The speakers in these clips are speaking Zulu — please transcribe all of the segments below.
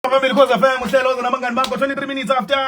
phambili cause FM uhlelo oze nabangani bakho 23 minutes after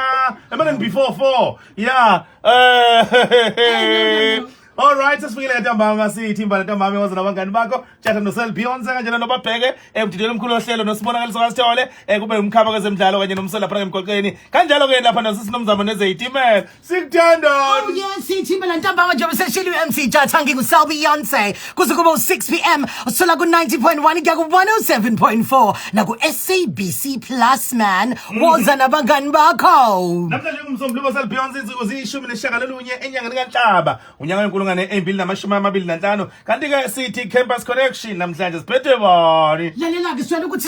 emaneni before 4 yeah eh All right, sesifikile ke ntambama sithi imbala ntambama waze nabangani bakho tjata nosel Beyonce kanjena nobabheke emdidweni omkhulu ohlelo nosibonakaliso kasithole eh kube umkhaba kwezemidlalo kanye nomsela lapha ngemgwaqeni kanjalo ke lapha nasisinomzamo nezeitimela sikuthanda Oh yes, sithimba la ntambama njengoba seshilo uMC Jatha nginguSal Beyonce kuze kube u6 pm usola ku 90.1 kuya ku 107.4 la ku SABC Plus man woza nabangani bakho namhlanje kumsombuluko osal beyonce insuku ziyishumi nesishagalolunye enyangeni kanhlaba unyaka wenkulungwane eyimbili namashumi amabili nanhlanu kanti-ke sithi campus connection namhlanje siphethwe bani lalela-ke sitshela ukuthi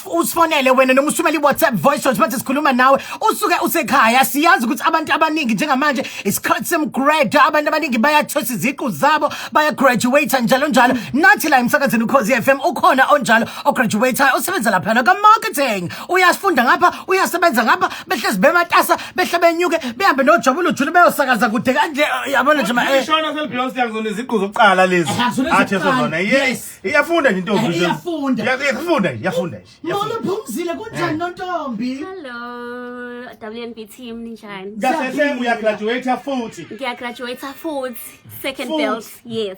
usifonele wena noma usumele i-whatsapp voice note manje sikhuluma nawe usuke usekhaya siyazi ukuthi abantu abaningi njengamanje isikhathi semgrade abantu abaningi bayathosa iziqu zabo bayagraduate njalo njalo nathi la emsakazini ukhozi f m ukhona onjalo ograduatayo osebenza laphana kamarketing uyasifunda ngapha uyasebenza ngapha behlezi bematasa behle benyuke behambe nojabu lujule beyosakaza kude kanje eh, yabona nje ma eh. ishona selibhiyosi yakuzona iziqu zokuqala lezi athi ezozona yes iyafunda nje intombi eh, iyafunda iyafunda iyafunda molo phumzile kunjani nontombi hello WNB team ninjani kahle uyagraduate futhi ngiyagraduate futhi second belt yes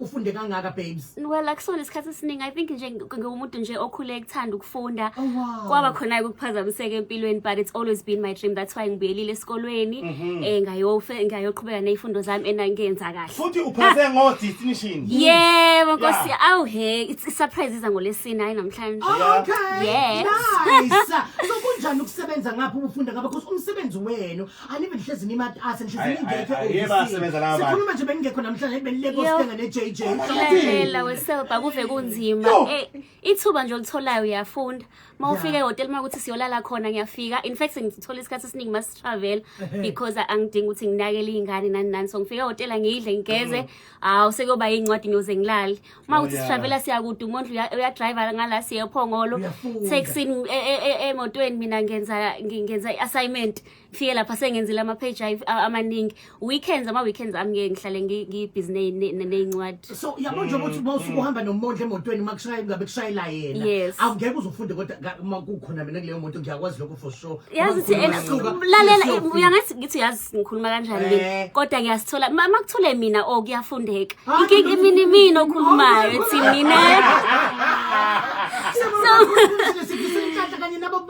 ufunde kangaka babes well akusona isikhathi esiningi i think nje ngiwumuntu nje okhule ekuthanda ukufunda oh, wow. kwaba khona-ke ukuphazamiseka empilweni but it's always been my dream that's why ngibuyelile esikolweni um mm-hmm. eh, ngayofe ngayoqhubeka ney'fundo zami and ngenza kahle futhi uphase ngo-distinction yebo nkosi yeah. awu he i-surprise iza ngolesini hhayi namhlanje oh, okay yes nice so kunjani ukusebenza ngapho ubufunda ngaba because umsebenzi wenu anibe nihlezi nimatasa nihlezi ningekho sikhuluma nje bengingekho namhlanje benileko sithenga ne-jj lalela weselba kuve kunzima eh, ithuba nje olitholayo uyafunda uma ufika ehhotela uma ukuthi siyolala khona ngiyafika in fact ngithola isikhathi esiningi uma sitravel because angidingi ukuthi nginakele iy'ngane nani nani so ngifika ehhotela ngiyidle ngigeze hawu mm. ah, sekuyoba yiy'ncwadi ngiyoze ngilale uma ukuthi sitravela siyakude umondlu uyadrayiva ngala siye ephongolo taxini e, e, e, emotweni mina ngenza ngenza i-assignment ngifike lapha sengenzile ama-page amaningi weekends ama-weekends ami ngeke ngihlale ngibhizi ney'ncwadi so yabo nje ukuthi uma usuke uhamba nomondla emotweni uma kushayela ngabe kushayela yena awungeke uzofunde kodwa uma kukhona mina kuleyo moto ngiyakwazi lokho for sure yazi thi ena lalela uyangathi ngithi yazi ngikhuluma kanjani mina eh. kodwa ngiyasithola mama kuthule mina o oh, kuyafundeka ah. inkinga imini mina okhulumayo ethi mina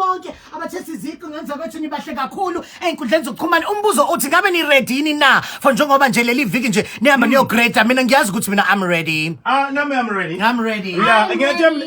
bonke abathe siziqu ngenza kwethu nibahle kakhulu ey'nkundleni zokuxhumana umbuzo uthi ngabe niredini na for njengoba nje leli viki nje nihamba hmm. niyogreda mina ngiyazi ukuthi mina i'm ready ah nami i'm ready i'm ready yeah ngiyathemba